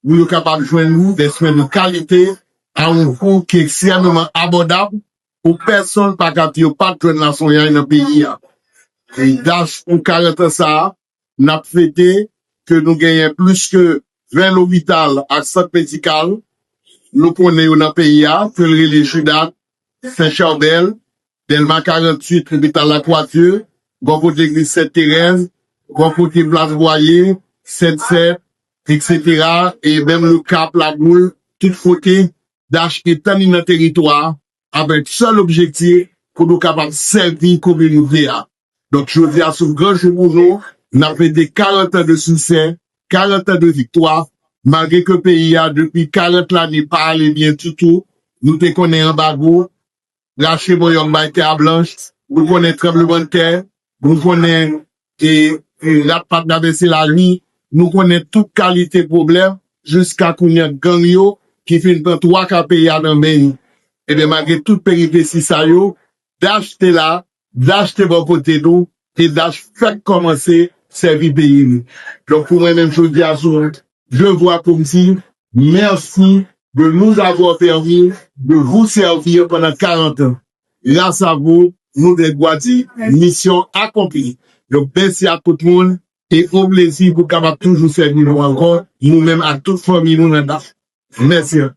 pou yo kapab jwenn ou de swen de kalite a yon kou ki ekstrèmeman abòdab pou pèsonn pa kap yo pat jwenn laswenyay nan peyi a. Dach pou 40 an sa a, n ap fete ke nou genyen plis ke 20 lopital ak sant medikal nou konnen yo nan peyi a ke l rele JUDAD Sen Charbèl, Dèlma 48, Lopital Lakwadye, bò kote legliz Sent Terèz, bò kote plas Bwaye, Sent Sèt, eksetera e menm Okap, Laboul, tout kote, dach etann li nan teritwa a avèk sèl objektif pou nou kapab sèvi kominote a. Donk jodi a son gran jou pou nou, nap fete 40 tan de siksè, 40 tan de viktwa, malgre ke peyi a depi 40 lane pa ale byen ditou, nou te konnen anbago, rache bòyòm bay tè a blanch, nou konnen tranblemann tè, nou konnen rat pa travèse lari, nou konnen tout kalite pwoblèm, jiska kounya gang yo ki fin pran 3 ka peyi a nan men yo. Ebyen malgre tout peripesi sa yo, dach te la Dach te bò kote nou e Dach fèk kòmanse sèvi peyi li. Donk pou mwen menm jodi a se yon devwa pou m di mèsi de nous avoir permis de vous servir pendant 40 ans. Gras a vou nou gen dwa di misyon akonpli. Donk mèsi ak tout moun e on plezi pou kapab toujou sèvi nou ankò nou menm ak tout fanmi nou nan Dach. Mèsi anpil.